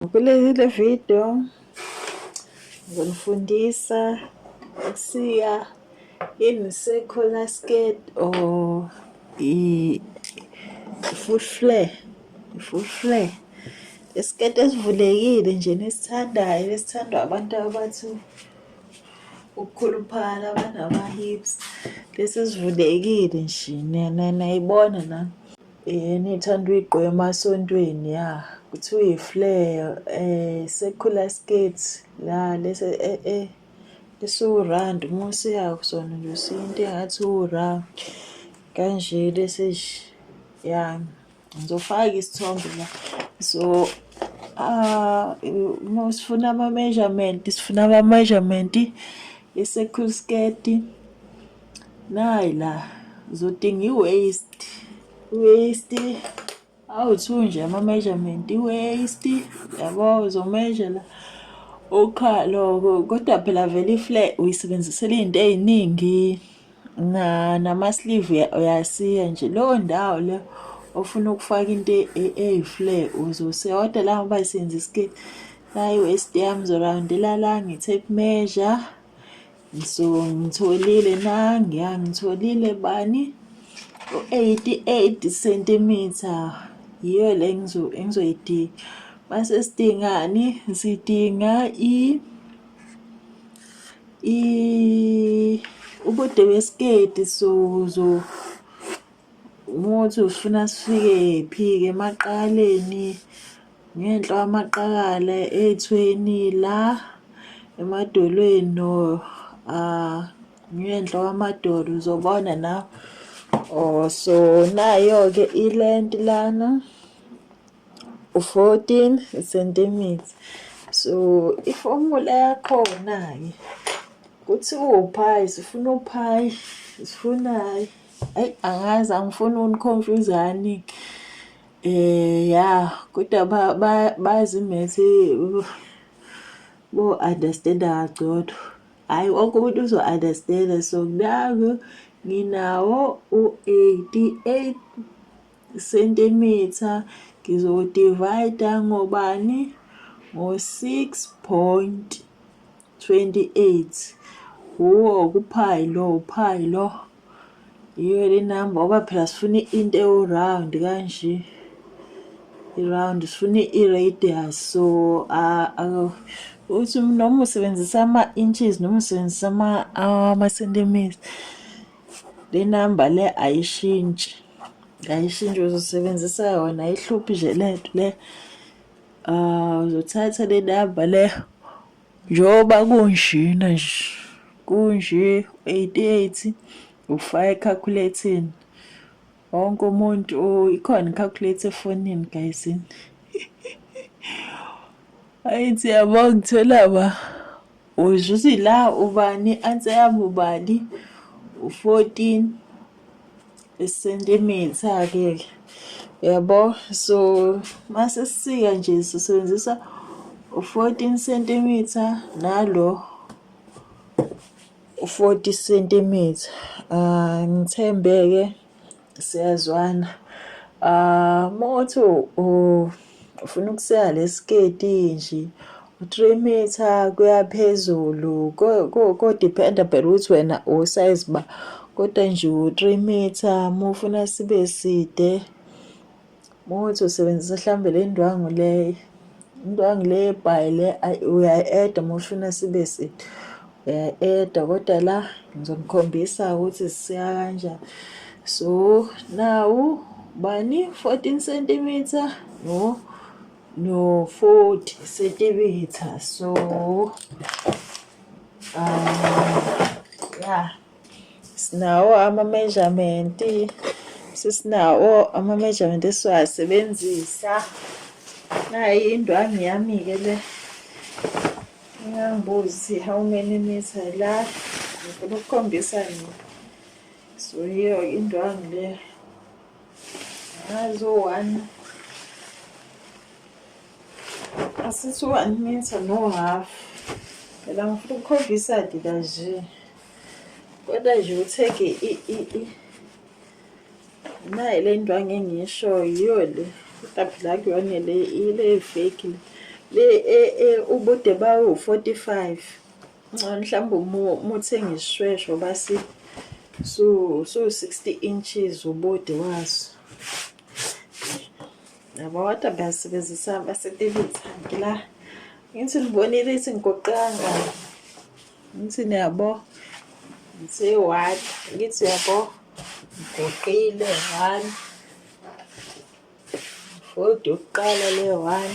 Kulezi le video ngizonifundisa ukusiya in circular skirt or i full flare full flare isiketi esivulekile nje nesithandayo esithandwa abantu abathi ukukhuluphala banama-hips lesi sivulekile nje nayibona na Yena ithanda uyigqwema esontweni ya kuthiwa i-flare eh sekhula skirt la lese eh eh esiwurand uma usiya kusona nje usiya into engathi ura kanje lesi ya ngizofaka isithombe la so ah uma sifuna ama-measurement sifuna ama-measurement i-circle skirt Nayi la zodinga i-waste waste awu-two nje ama-measurement i-waste yabo uzomeasure la ukhalo kodwa phela vele ifle uyisebenzisela izinto eziningi na nama-sleeve uyasiya nje leyo ndawo leyo ofuna ukufaka into e, e, eyifle uzosiya kodwa la ngoba isebenzisa isiketi nayi-waste yami zorawundela la ngi-tape measure so ngitholile nangiya ngitholile bani u-88 centimeter yiyo le engizoyidinga base sidingani sidinga i i ubude wesiketi so so umuthi ufuna sifike phi-ke emaqaleni Ngenhla kwamaqakala ethweni la emadolweni no uh, ngenhla kwamadolo uzobona na oh so nayo-ke ilent lana u-14 centimeter so ifomula yakhona-ke kuthi uwuphayi sifuna uphayi sifunayo ayi angazi angifuni uniconfuse-ani-ke Eh ya kodwa ba ba- bazi methi bo understand kangcono. Hayi wonke umuntu uzo understand so naku nginawo u-88 centimeter ngizowudivayida ngobani ngo-6 point. 28 wuwo kuphayi lo uphayi lo yiyo le number oba phela sifuna into ewu-round kanje i-round sifuna i-radius so uthi noma usebenzisa ama-inches noma usebenzisa ama-centimetres le number le ayishintshi ayishintshi uzosebenzisa yona ihluphi nje le nto le um uzothatha le number le Njengoba kunjena nje, kunje u-88 ufaka ekhakhuleteni. Wonke umuntu oh, ikhona ikhakhulethe efonini gayizini. Ayithi yabo ngithola ba uzwe ukuthi la ubani anse yami ubani u-14 isenta imithi akeke yabo so mase sisika nje sisebenzisa u-14 cm nalo u-40 cm ah ngithembeke siyazwana ah motho ufuna ukuseya lesiketi nje u-three meter kuyaphezulu kodependa phela ukuthi wena usayizi ba kodwa nje u-three meter uma ufuna sibe side muthi usebenzisa mhlawumbe le ndwangu leyo indwangu le ebhayi le uyayi-eda uma ufuna sibe side Eh, eh, dokotela ngizonikhombisa ukuthi siya kanjani so now bani 14 centimeter no no 40 centimeter so um, yeah sinawo ama-measurement sesinawo ama-measurement esiwasebenzisa nayi indwangu yami-ke le ingangibuzi how many meter la ngifuna ukukhombisa nini so yiyo indwangu le ngazi u-one asithi u-one meter no half phela ngifuna ukukhombisa dila nje Kodwa nje utheke i i i naye le ndwangu engishoyo yiyo le kodwa phela kuyona le ile fake le e, e, ubude bawo 45 ngcono mhlawumbe umuthi engishwesho basi so so 60 inches ubude waso yabo kodwa basebenzisa basetelizanti la ngithi libonile ithi ngigoqanga ngithi niyabo ngiseyi-one ngithi yabo ngigoqile one kodwa yokuqala le one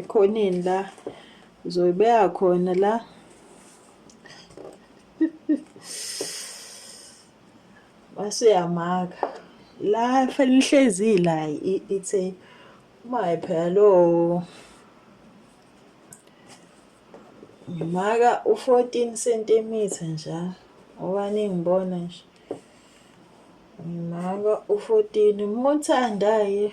ekhoneni la uzoyibeka khona la basuyamaka la fanele ihlezi la ithe uma phela lo ngimaka u-14 cm nja ngoba ningibona nje ngimaka u-14 uma uthandaye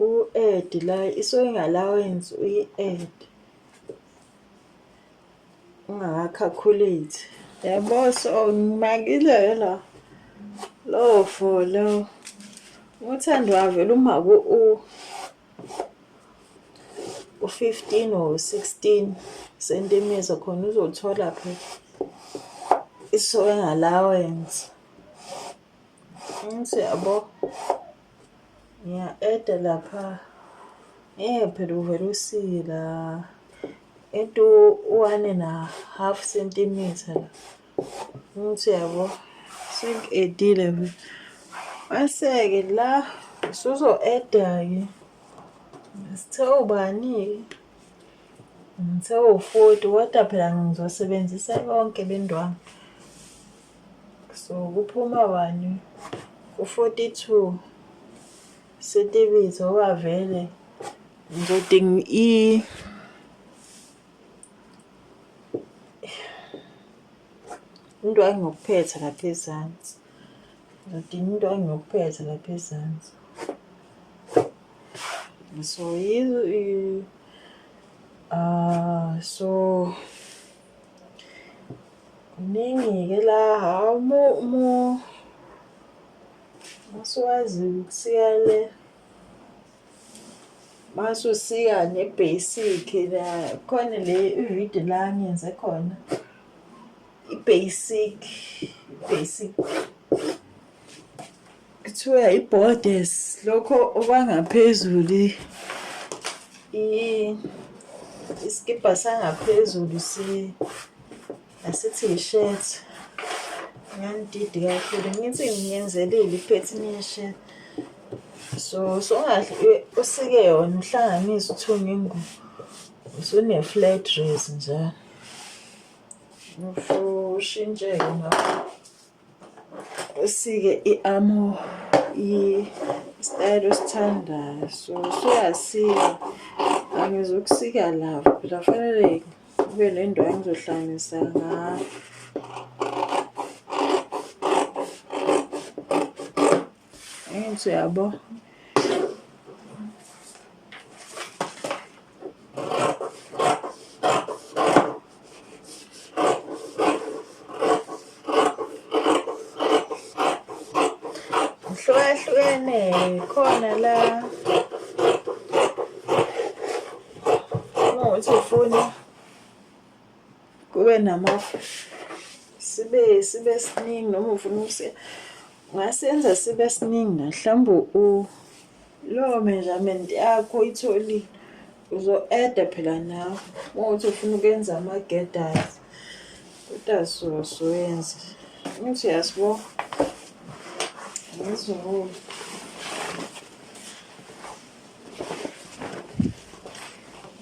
U-add la i-sewing allowance uyi-add ungakakhalculate yabo so ngimakile la lowo for lo uthando wavela uma ku-u u-15 or 16 sentimeter khona uzothola phela i-sewing allowance ngithi yabo Ngiya-eda lapha. Eh phela uvele usila. Into one na half centimeter la. Ngithi yabo sengedile nje. Maseke la suzo eda ke. Sithe ubani? Ngithe u-40 kodwa phela ngizosebenzisa konke bendwami. so kuphuma wani u-42 setibizo wavele ngiding i into engiyokuphetha lapha ezansi ngidinga into engiyokuphetha lapha ezansi so yizo uh, so Kuningi-ke la hhawu masuwazi ukusika le masusika ne-basic la khona le ividiyo la ngenze khona i-basic basic kuthiwa i-borders lokho okwangaphezulu isikibha sangaphezulu si asithi yi-shirt ngangididi kakhulu ngithi ngiyenzelile iphethini ye-shirt so songahle usike yona uhlanganise uthunge ingubo usune-flat dress njalo ushintshe-ke ngakho usike i-amo isitayela osithandayo so suyasika angizokusika lava phela fanele kube nendawo engizohlanganisa ngayo Enzo yabo. Hlukahlukene khona la uma uthi ufuna kube namafu sibe sibe siningi noma ufuna ukusiya Wasenza sibe siningi la mhlawumbe u lowo measurement yakho uyitholile uzo-eda phela nawe uma uthi ufuna ukwenza ama-gedas kodwa sosoyenza ukuthi yasibo ngizoo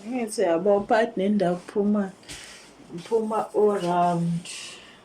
ngithi yabo part nendawo kuphuma ngiphuma o-round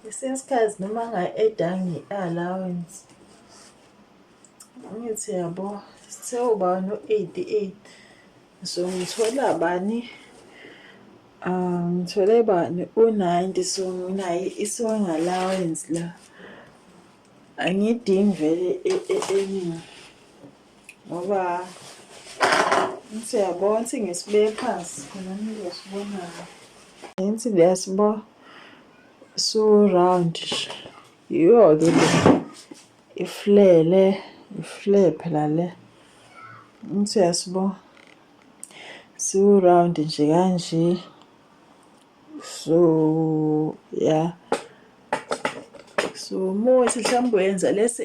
Ngesinye isikhathi noma nga-eda nge-allowance ngithi yabo sewuba no-88 so ngithola bani um ngithole bani u-90 so nginayo i-song allowance la angiyidingi vele eningi ngoba ngithi uyabona ukuthi ngisibeke phansi khona nizosibonayo ngithi liyasibo su-round yiyo-ke le iflele ifle phela le ngithi uyasibo siwu-round nje kanje so ya so muthi mhlawumbe uyenza lesi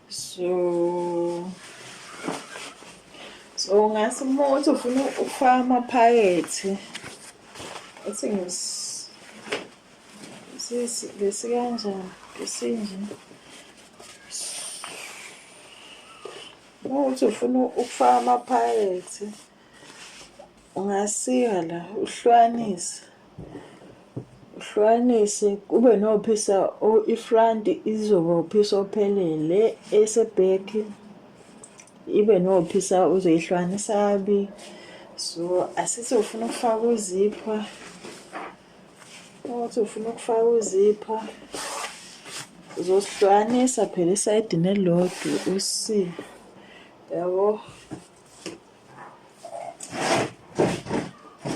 so so ungase uma uthi ufuna ukufaka amaphakethi uthi ngesikanjani ngesinje uma uthi ufuna ukufaka amaphakethi Ungasika la uhlukanise uhlukanise kube nophisa ifront izoba uphisa ophelele eseback ibe nophisa uzoyihlukanisa abi so asithi ufuna ukufaka uzipha ukuthi ufuna ukufaka uzipha uzosihlukanisa phela isayidi nelodwa usi yabo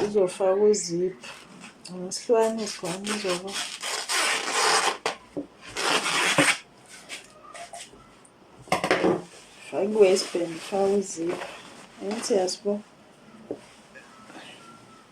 uzofaka uziphu ngesihlwane isihlwane uzoba faka i-waistband faka uziphu engithi yasibona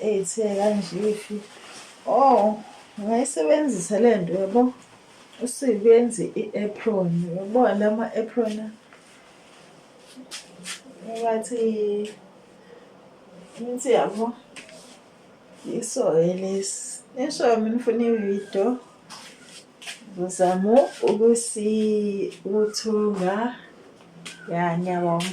Ethe kanje ifi oh ngayisebenzisa le nto yabo usuyenze i-apron yabo la ma-apron ngathi ngithi yabo yiso-ke lesi nisho mina ufuna ividiyo ngizama ukusi ukuthunga ya ngiyabonga